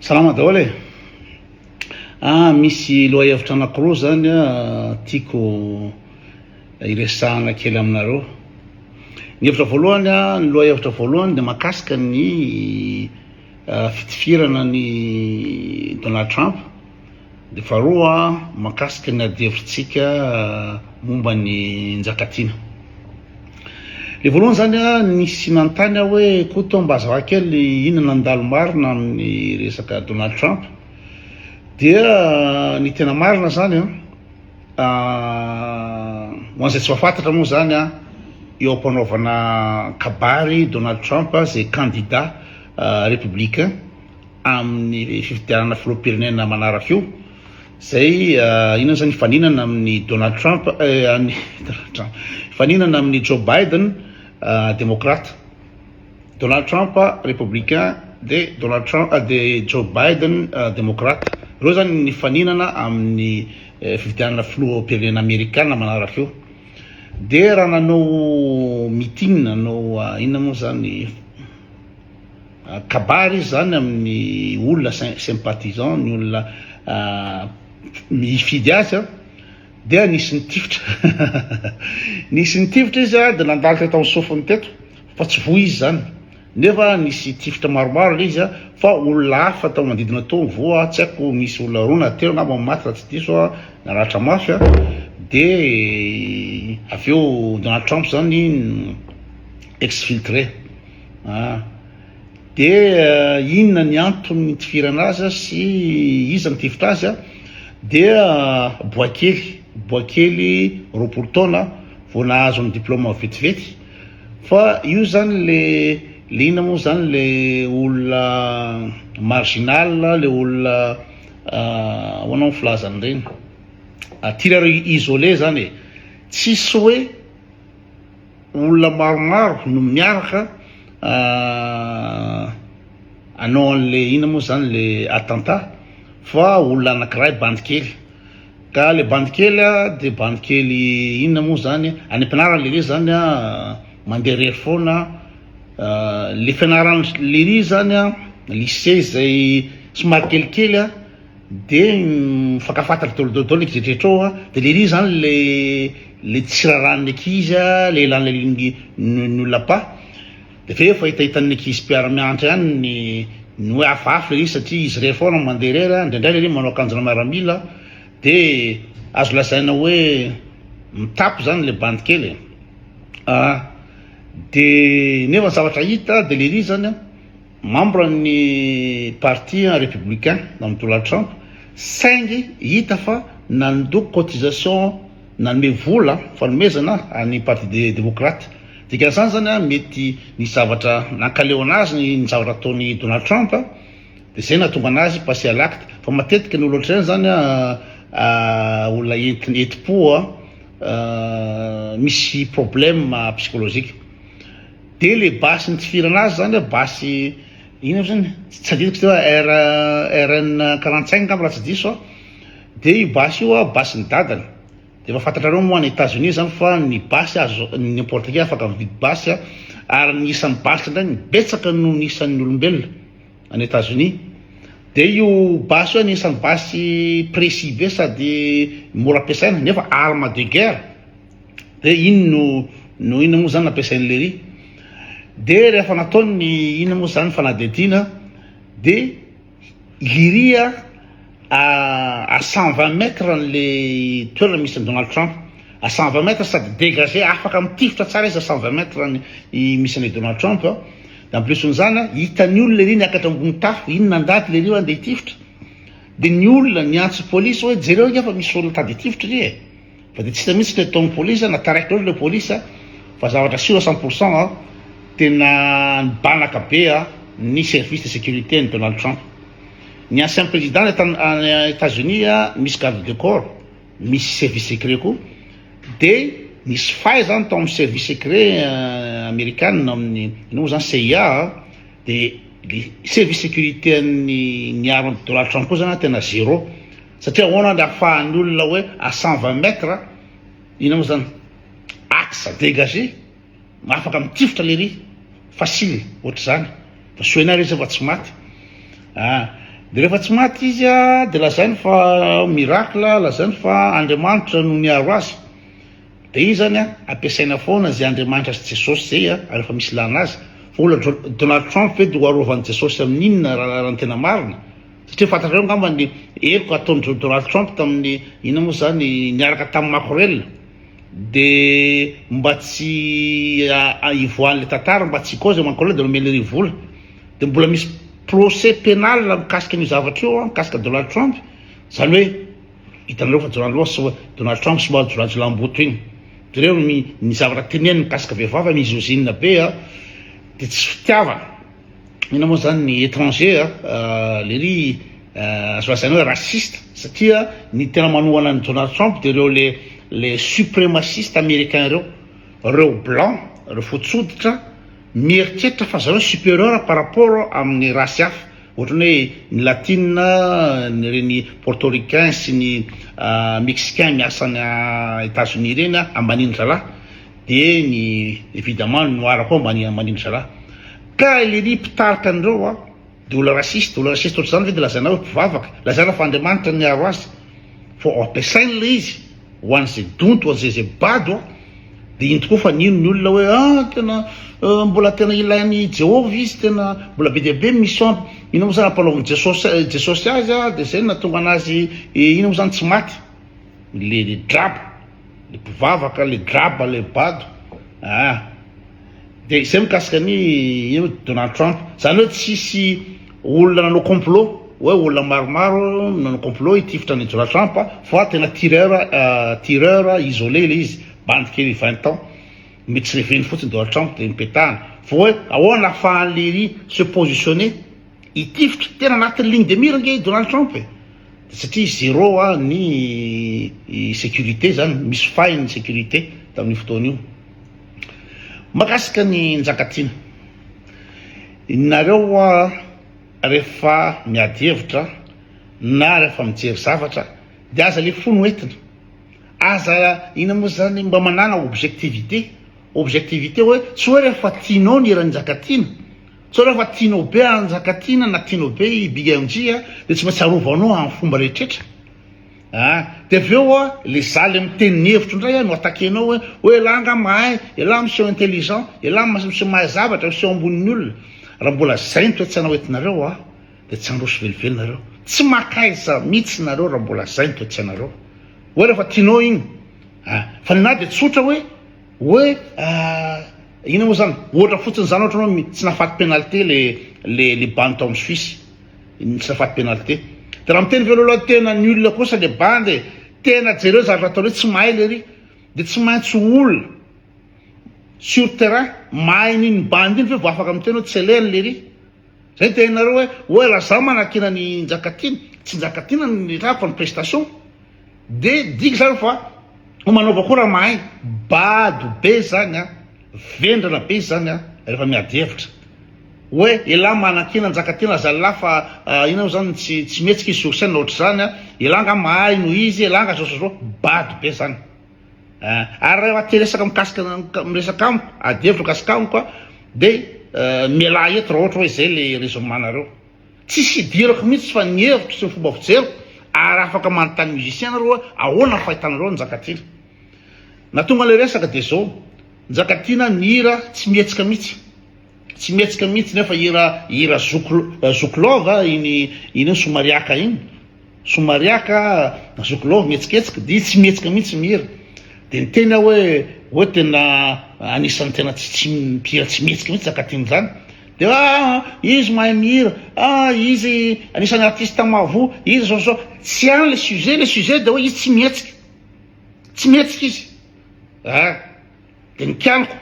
Salama daholo e! Ah misy lohahevitra anankiroa zany tiako hiresahana kely aminareo. Ny hevitra voalohany, ny lohahevitra voalohany dia mahakasika ny fitifirana an'i Donald Trump. Dia faharoa, mahakasika ny adihevitsika momba ny Njakatiana. Ilay voalohany izany, nisy nanontany aho hoe, Koto mba azavaho kely inona no nandalo marina amin'ny resaka Donald Trump? Dia ny tena marina izany, ho an'izay tsy mahafantatra moa izany, eo am-panaovana kabary Donald Trump izay kandida Républicain, amin'ny fifidianana filoham-pirenena manaraka io, izay inona izany, hifaninana amin'i Donald Trump, hifaninana amin'i Joe Biden, demokrata, Donald Trump, républicain, dia Donald Trump, dia Joe Biden, demokrata. Ireo izany ny hifaninana amin'ny fifidianana filoham-pirenena amerikana manaraka io. Dia raha nanao meeting, nanao inona moa izany, Kabary izy zany amin'ny olona sym sympathisant ny olona hifidy azy a dia nisy nitifitra nisy nitifitra izy a de nandalo teto amin'ny sofiny teto fa tsy voa izy zany nefa nisy tifitra maromaro le izy a fa olona hafa tao manodidina tao voa tsy haiko nisy olona roa na telo angamba no maty raha tsy diso a naratra mafy a de avy eo Donald Trump zany exfiltré. Ah. Dia inona ny antony nitivirana azy sy iza nitifitra azy? Dia boay kely, boay kely roapolo taona vao nahazo ny diploma vetivety. Fa io zany le le inona moa zany le olona marginal, le olona ahoana moa filaza an'ireny? Tireur isolé zany e. Tsisy hoe. Olona maromaro no miaraka hanao an'ilay inona moa izany ilay attentat fa olona anankiray bandy kely ka ilay bandy kely dia bandy kely inona moa izany any am-pianarana lery izany a mandeha irery foana ilay fianarana lery izany a lycée izay somary kelikely a De mifankafaty dôlodôdôly ny kijetrijetra ao a, de le iry zany le le tsy rarahan'ny ankizy a, le elan'le lingui ny olona apa, de avy eo efa hitahitan'ny ankizy mpiara mianatra ihany ny ny hoe hafahafa le izy satria izy irery foana no mandeha irery a, indraindray le iry manao akanjona miaramila, de azo lazaina hoe mitapy zany le bandy kely e, a de nefa ny zavatra hita de le iry zany a. Membre ny parti republicain nan'ny Donald Trump saingy hita fa nandoa cotisation nanome vola fanomezana any parti democrate dikan'izany zany mety nisy zavatra nankaleona azy ny zavatra ataony Donald Trump de zay natonga anazy passer à l'acte fa matetika ny olona ohatr'ireny zany olona entina enti-po misy problème psychologique Dia le basy nitifirana azy zany a basy ino aby zany tsy adidiko teo a RN quarante cinq ngamba raha tsy diso aho dia io basy io a basy ny dadany dia efa fantatrareo moa any Etats Unis zany fa ny basy azo n'importe qui afaka mividy basy a ary ny isan'ny basy indray no betsaka noho ny isan'ny olombelona any Etats Unis dia io basy io anisan'ny basy précis be sady mora ampiasaina nefa arme de guerre Hoe inn no no inona moa zany nampiasain'i Lery. Dia rehefa nataony ny inona moa zany fanadihadiana dia Liria à à 120 mètres an'le toerana misy an'i Donald Trump. À 120 mètres sady dégagé afaka mitifitra tsara izy à 120 mètres ny i- misy an'i Donald Trump. Dia en plus an'izany a, hitan'ny olona ery niakatra ambony tafo, inona an-daty lery io andeha hitifitra. Dia ny olona niantso polisy hoe jereo anie fa misy olona tady hitifitra ery e. Fa dia tsy hita mihitsy teto ny police, na taraiky loatra ilay police fa zavatra sûr à cent pour cent an, tena nibanaka be ny service de sécurité an'i Donald Trump. Ny ancien président any Etats-Unis misy garde de corps, misy service secret koa, dia nisy fay izany tao amin'ny service secret Amerikana ao amin'ny inona moa izany CIA an, dia ilay service sécurité an'ny niaro an'i Donald Trump koa izany an tena zéro. Satria ahoana ary afahan'ny olona hoe à cent vingt mètres, inona moa zany, axe dégagé, afaka mitifitra lery, facile ohatr'izany, fa soa enao re zay fa tsy maty ah, de rehefa tsy maty izy a de lazainy fa miracle, lazainy fa Andriamanitra no niaro azy, de io zany a ampiasaina foana zay Andriamanitra sy Jesosy zay a rehefa misy ilana azy, fa olona Donald Trump ve de ho arovan'i Jesosy amin'inona raha ny tena marina? Satria fantatrareo angamba ny heloka ataon'dry Donald Trump tamin'ny inona moa izany, niaraka tamin'i Makorel, dia mba tsy hivoahan'ilay tantara, mba tsy hikaoza i Makorel dia nomeny irery vola, dia mbola misy procès pénal mikasika an'io zavatra io, mikasika Donald Trump, izany hoe hitanareo fa Donald Trump somary, Donald Trump somary jiolajiolaham-boto iny, dia ireo ny ny zavatra teneniny mikasika vehivavy, mizozinina be an, dia tsy fitiavana. Inona moa zany ny étranger a, lery azo lazaina hoe raciste satria ny tena manohana an'i Donald Trump dia ireo le le supremaciste américain ireo, ireo blanc, ireo fotsy hoditra mieritreritra fa zareo supérieur par rapport amin'ny race hafa ohatran'ny hoe ny latina, ireny portoricain sy ny mexicain miasa any États-Unis ireny a ambanian'ny zalahy dia ny évidemment ny noir koa ambanian'ny zalahy. Ka ilay ry mpitarika an'ireo a dia olona raciste, olona raciste ohatr'izany ve dia lazaina hoe mpivavaka? Lazaina fa Andriamanitra niaro azy fa ampiasainy ilay izy ho an'izay donto, ho an'izay izay bado a! Dia iny tokoa fa nino ny olona hoe a! tena mbola tena ilain'i Jehovah izy, tena mbola be dia be ny mission-ny. Inona moa izany ampanaovin'i Jesosy Jesosy azy a! dia izay no nahatonga an'azy inona moa izany tsy maty? Ilay draba. le mpivavaka le graba le bado ah de zay mikasika ny ino Donald Trump zany hoe tsisy olona nanao complot hoe olona maromaro nanao complot hitifitra ny Donald Trump fa tena tireur tireur isolé le izy bandy kely vingt ans mety tsy reveny fotsiny Donald Trump de mipetahana fa hoe ahoana afahan'i Leiry se positionner hitifitra tena anatin'ny ligne de mire ange i Donald Trump e satria zero a ny securite zany misy fahiny ny securite tamin'io fotoana io makasika ny njakatiana nareo a rehefa miady hevitra na rehefa mijery zavatra de aza le fo no entina aza ina moa zany mba manana objectivite objectivite hoe tsy hoe rehefa tianao ny eran'ny njakatiana Sao rehefa tianao be an Njakatiana na tianao be i Big MJ a de tsy maintsy arovanao am fomba rehetretra a! de avy eo a le za le miteny ny hevitro ndray a no attaquer-nao hoe hoe elah nga mahay, elah miseho intelligent, elah miseho mahay zavatra, miseho ambonin'ny olona, raha mbola zay ny toetsainao entinareo a de tsy handroso velively nareo, tsy makaiza mitsy nareo raha mbola zay ny toetsainareo, hoe rehefa tianao igny a! fa ninahy de tsotra hoe. Oe ahh inona moa zany, ohatra fotsiny zany ohatra hoe tsy nahafaty penalty le le le bandy tao amin'ny Suisse, tsy nahafaty penalty, de raha miteny velolo hoe tena nul kosa le bandy e, tena jereo zavatra ataony hoe tsy mahay lery, de tsy maintsy olona sur terrain mahay an'iny bandy iny ve vao afaka miteny hoe tsy elaine lery. Zay ny teninareo hoe oa la za manakiana ny Njakatiana, tsy Njakatiana no nirava fa ny prestation, de digy zany fa ho manaova koa raha mahay, bado be zany an, vendrana be zany an refa miady hevitra, oe elah manakiana Njakatiana zallah fa inona mo zany tsy tsy mihetsika izy sur scène ohatr'izany an, elah nga mahay noho izy, elah nga zao sy zao, bado be zany. Ary raha te resaka mikasika ny miresaka amiko, ady hevitra mikasika amiko a, dia mialà eto raha ohatra hoe izay ilay raisonnement-nareo. Tsisy idirako mihitsy fa ny hevitro sy ny fomba fijeriko, ary afaka manontany musicien nareo hoe ahoana ny fahitanareo an'i Njakatiana. Na tonga ilay resaka dia izao, Njakatiana mihira tsy mihetsika mihitsy. Tsy mihetsika mihitsy nefa hira hira zoky zoky love a iny iny eo somariàka iny somariàka zoky love mihetsiketsika dia izy tsy mihetsika mihitsy mihira dia niteny aho hoe hoe tena anisan'ny tena tsy tsy mpihira tsy mihetsika mihitsy Zakatin izany dia ah izy mahay mihira ah izy anisan'ny artista mahavoa izy zao zao tsy any le sujet le sujet dia hoe izy tsy mihetsika tsy mihetsika izy ah Dia nikialoko,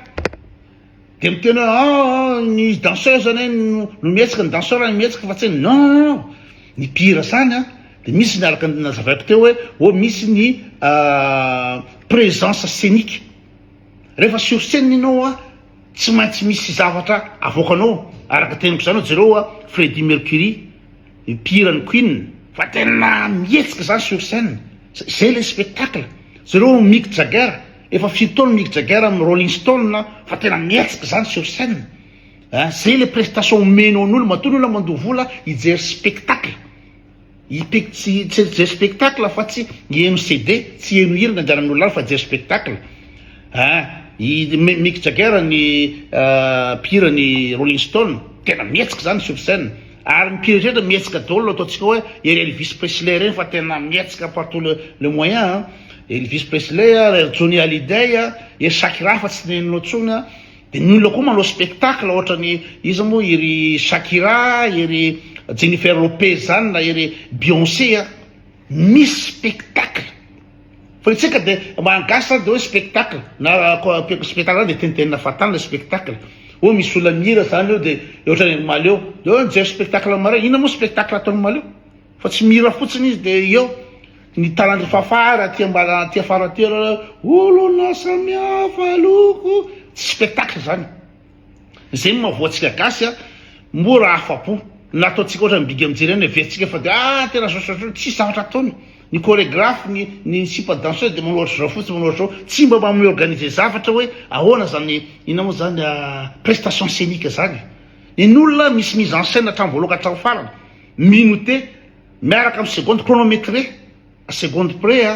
dia miteny hoe ah ny danseuse anie no mihetsika, ny danseur no mihetsika fa tsy ny non non non, ny mpihira zany an, dia misy ny araka ny nazavaiko teo hoe oh misy ny présence scénique, rehefa sur scène ianao an, tsy maintsy misy zavatra avoakanao, araka teniko zany hoe jereo an, Freddie Mercury, Mpihira ny Queen fa tena mihetsika zany sur scène, zay le spectacle, jereo Mick Jagger, efa firy taona Mick Jagger amin'ny Rolling Stone fa tena mihetsika zany sur scène eh, zay le prestation omeny ao n'olo, matoa ny olona mandoa vola hijery spectacle, hijery spectacle fa tsy hiheno CD, tsy hiheno hira ny andianan'ny olona any fa hijery spectacle eh, i Mick Jagger ny mpihira ny Rolling Stone tena mihetsika zany sur scène. Ary ny mpihira rehetra mihetsika daholo ataontsika hoe ery Elvis Presley ireny fa tena mihetsika partout le le moyen an! Elvis Presley a, ry Johnny Hallyday a, ery Shakira fa tsy nenina intsony a, dia ny olona koa manao spectacle ohatra ny iza moa iry Shakira, iry Jennifer Lopez zany na iry Beyonce a! Misy spectacle fa isika de maha gasy zany de oe spectacle na spectacle zany de tenitenina fahatany le spectacle oe misy olona mihira zany eo de ohatrany ry maleo de oe mijery spectacle am maray inona mo spectacle ataony maleo fa tsy mihira fotsiny izy de eo ny tarandry fafà ary aty ambara aty afara aty olona samihafa loko tsy spectacle zany Zay no maha-voa antsika gasy a! Moa raha afa-po na ataontsika ohatran'ny bigy mijery any heverintsika fa dia ah tena zao zao zao, tsisy zavatra ataony! Ny choregraphe, ny ny sipa danseuse dia manao ohatr'izao fotsiny, manao ohatr'izao, tsy mba maha mi-organiser zavatra hoe ahoana zany, inona moa zany a, prestation scenique zany e! Ny olona misy mise en scène hatramin'ny voaloha ka hatramin'ny farany, minote miaraka amin'ny seconde chronometrée. Seconde près a,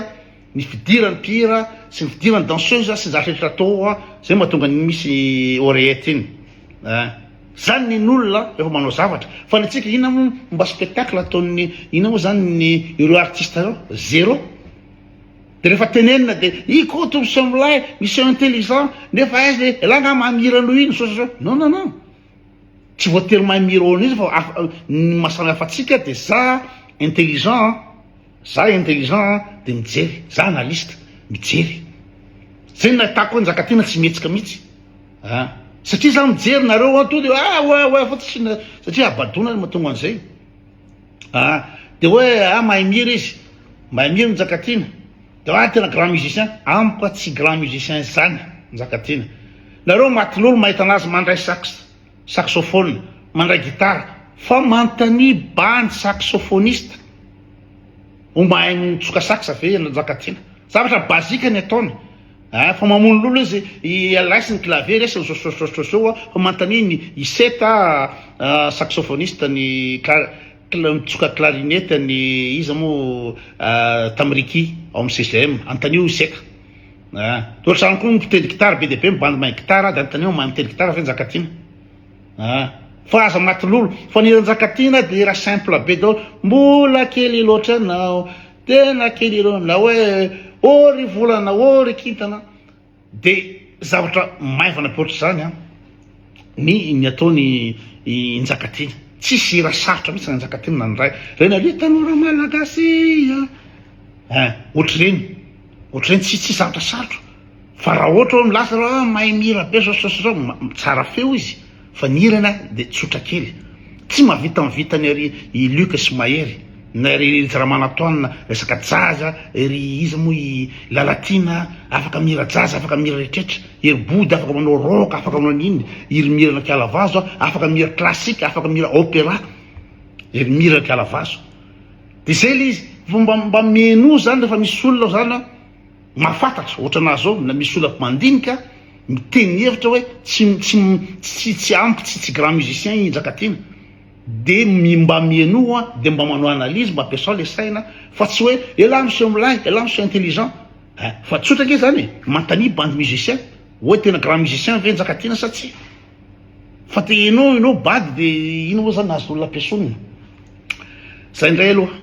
ny fidiran'ny mpihira sy ny fidiran'ny danseuse sy ny zavatra rehetra atao ao a, zay mahatonga an'iny misy oreillette iny a. Zany ny ain'olona rehefa manao zavatra. Fa ny antsika inona moa momba spectacle ataon'ny inona moa zany ny ireo artiste ireo? Zero. De rehefa tenenina de Ikoto miseho milay, miseho intelligent, nefa aiza e, elah nga maha mihira noho iny, misaotra anareo. Non non non. Tsy voatery mahay mi-irony izy fa ny maha samy hafa antsika dia za intelligent an, za intelligent an dia mijery, za analyste mijery. Zay nahitako hoe Njakatiana tsy mihetsika mihitsy an, satria za mijery nareo an, tonga de ah oa oa fa tsy satria habadoana ny mahatonga an'izay an, dia hoe ah mahay mihira izy, mahay mihira Njakatiana. Grand tena grand musicien amiko a tsy grand musicien zany Njakatiana nareo matin'olo mahita anazy mandray sax saxophone mandray guitare fa manontania bandy saxophoniste ho mahay mitsoka sax ve ianao Njakatiana zavatra basique ny ataony a fa mamono lolo izy i Elice ny clavier resiny sosososososoa fa manontania ny i Seta saxophoniste ny Mitsoka clarinette ny iza moa tam Ricky ao am CGM, antanio iseka a! Toa trano koa mpitendry gitara be dia be mibandy mahay gitara dia antanio mahay mitendry gitara ve Njakatiana a! Fa aza maty lolo fa ny hira Njakatiana dia hira simple be daholo, mbola kely loatra ianao, tena kely ireo na hoe ô ry volana ô ry kintana, Dia zavatra maivana be ohatr'izany ny ny ataony i Njakatiana. Tsisy hira sarotra mihitsy Njakatiana na ny iray. Ireny ry tanora malagasy a! Ein, ohatr'ireny. Ohatr'ireny tsy tsisy zavatra sarotra. Fa raha ohatra hoe milaza hoe mahay mihira be izao sy izao sy izao, tsara feo izy. Fa ny hirany ah de tsotra kely. Tsy mahavita mivita ny ry i Luc sy Mahery. Na ry Ry Ramanantoanina resaka jaza, ry iza moa i Lalatiana afaka mihira jaza, afaka mihira reetretra. I ry Body afaka manao rock, afaka manao n'inona. I ry Mira Nakialavazo ah afaka mihira classique, afaka mihira opera. I ry Mira Nakialavazo. De zay le izy. Fa mba mba mihenoa zany refa misy olona zany an. Mahafantatra, ohatrana ahy zao, na misy olona mandinika miteny hevitra hoe tsy tsy tsy tsy ampy tsy tsy grand musicien i Njakatiana de mba mienoa de mba manao analyse mba ampiasao le saina fa tsy hoe elah miseho milay elah miseho intelligent eh fa tsotra ange zany e manontania bandy musicien hoe tena grand musicien ve Njakatiana sa tsia fa te enao enao bady de ino moa zany azon'olona ampiasaony zay ndray aloha.